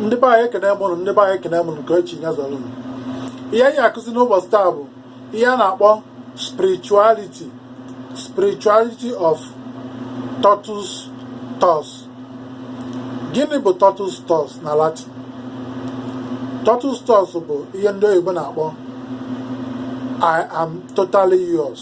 ndị be anyị ekene mụ ụnụ ndị be anyị ekene mụ ụnụ nke echi ya zọrọ ihe anyị akụzi n'ụbọchị taa bụ ihe a na-akpọ spirituality spirituality of totus tuus gịnị bụ totus tuus na latin totus tuus bụ ihe ndị oyibo na-akpọ i am totally yours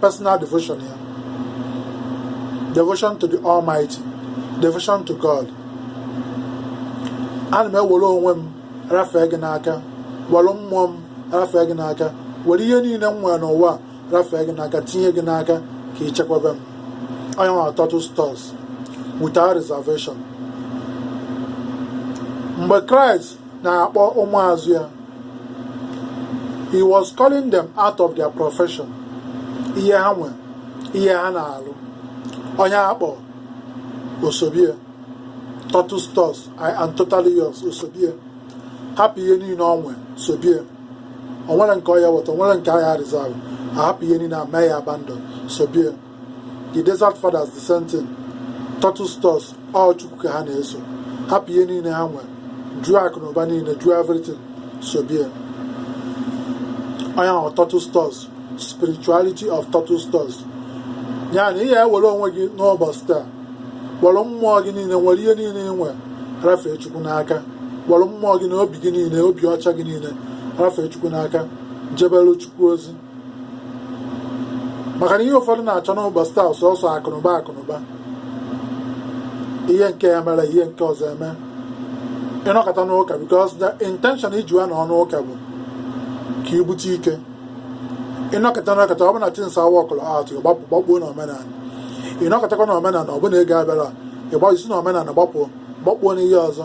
personal devotion ya devotion to the almighty devotion to god ana m ewere onwe m rafee gị n'aka were mmụọ m rafee gị n'aka were ihe niile m nwere n'ụwa rafee gị n'aka tinye gị n'aka ka ị chekwaba m ọ nya bụ totus tuus without reservation mgbe kraịst na-akpọ ụmụazụ ya he was calling them out of their profession ihe ha nwe ihe ha na-alụ onye a kpọọ o sobie totus tuus i am totally yours o sobie hapụ ihe niile ọ nwe sobie o nwere nke ọ ya weta o nwere nke a ga reserve a hapụ ihe niile a mee ya abandon sobie the desert fathers the same thing totus tuus ọ chukwu ka ha na-eso hapụ ihe niile ha nwere jụọ akụ na ụba niile jụọ everything sobie ọ nya bụ totus tuus spirituality of totus tuus ya na ị ya ewere onwe gị n'ụbọchị taa kpọrọ mmụọ gị niile were ihe niile ị nwere rafee chukwu n'aka kpọrọ mmụọ gị na obi gị niile obi ọcha gị niile rafee chukwu n'aka jebere chukwu ozi maka na ihe ụfọdụ na-achọ n'ụbọchị taa sọsọ akụnụba akụnụba ihe nke ya mere ihe nke ọzọ eme ị nọkata n'ụka because the intention i ji ya nọ n'ụka bụ ka i bute ike ị nọkata nọkata ọ bụ na things aworkụrọ out gbapụ gbakpuo na omenala ị nọkatakwa na omenala ọ bụ na ego abịarọ ị gba i si na omenala gbapụ gbakpuo n'ihe ọzọ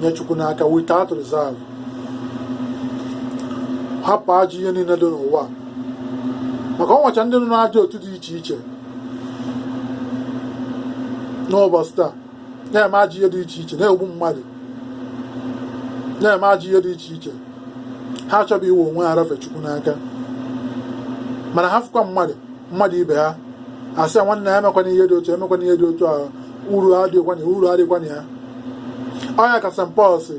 nye Chukwu n'aka without reserve hapụ ajọ ihe niile dị n'ụwa maka o nwecha ndị nọ n'ajọ otu dị iche iche n'ụbọchị taa na-eme ajọ ihe dị iche iche na-egbu mmadụ na-eme ajọ ihe dị iche iche ha achọghị iwe onwe ha rafee Chukwu n'aka mana ha fụkwa mmadụ mmadụ ibe ha asị nwanne ya emekwana ihe dị otu emekwana ihe dị otu ahụ uru adịghịkwa na ya uru adịghịkwa na ya ọ nya ka St Paul si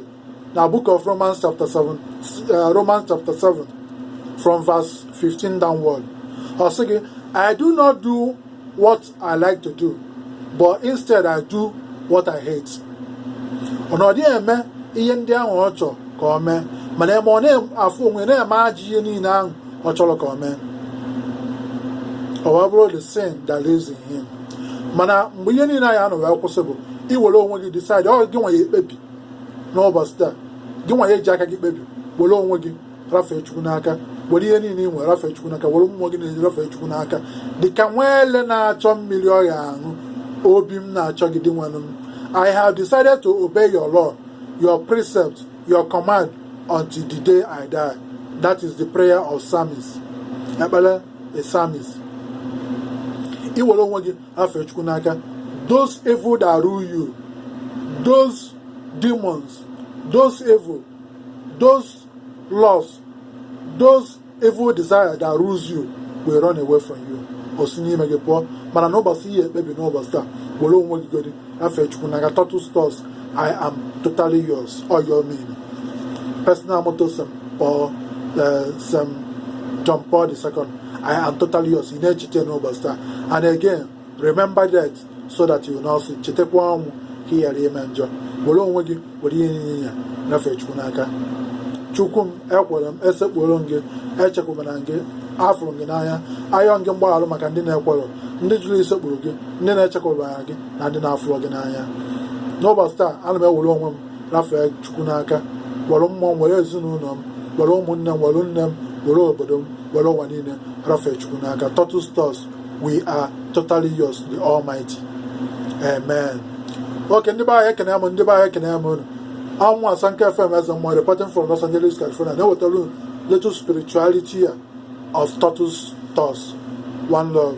na book of Romans chapter 7 uh, Romans chapter 7 from verse 15 downward ọ sị gị I do not do what I like to do but instead I do what I hate ọ na ọ dịghị eme ihe ndị ahụ ọ chọrọ ka ọ mee mana eme ọ na-afụ onwe na-eme ajọ ihe niile ahụ ọ chọrọ ka ọ mee ọ wee bụrụ the sin that lives in him mana mgbe ihe niile anyị anọ wee kwụsị bụ iwere onwe gị decide ọ gị nwa ya-ekpebi n'ụbọchị taa gị nwa ya-eji aka gị kpebi were onwe gị rafee chukwu n'aka were ihe niile ị nwere rafee chukwu n'aka were mmụọ gị niile rafee chukwu n'aka dịka nwa ele na-achọ mmiri ọ ya-aṅụ obi m na-achọ gị dinwenụ m I have decided to obey your law, your precept, your command until the day I die. That is the prayer of psalmist. Ekpele a psalmist ị were onwe gị rafee chukwu n'aka those evil that rule you those demons those evil those laws those evil desires that rules you will run away from you o si n'ime gị pụọ mana n'ụbọchị ị ya-ekpebi n'ụbọchị taa were onwe gị godi rafee chukwu n'aka totus tuus i am totally yours ọ ya ọ mean personal motto saint paul eh, saint john paul the second i am totally yours ị na-echeta n'ụbọchị taa and again remember death so that you will not sin chetakwa ọnwụ ka ị ghara ime njọ were onwe gị were ihe niile rafee chukwu n'aka chukwu m ekwere m esekpuoro m gị echekwubara m gị afụrụ m gị n'anya ayọ gị mgbaghara maka ndị na-ekwerọ ndị jụrụ isekpuru gị ndị na-echekwubarọ gị na ndị na-afụrọ gị n'anya n'ụbọchị taa ana m ewere onwe m rafee chukwu n'aka were mmụọ m were ezinụlọ m were ụmụnne m were nne m were obodo m were ụwa niile rafee chukwu n'aka totus tuus we are totally yours the almighty amen okay ndị be anyị ekene m ndị be anyị ekene m unu i'm asanke fm eze mmụọ reporting from los angeles california na-ewetara unu little spirituality of totus tuus one love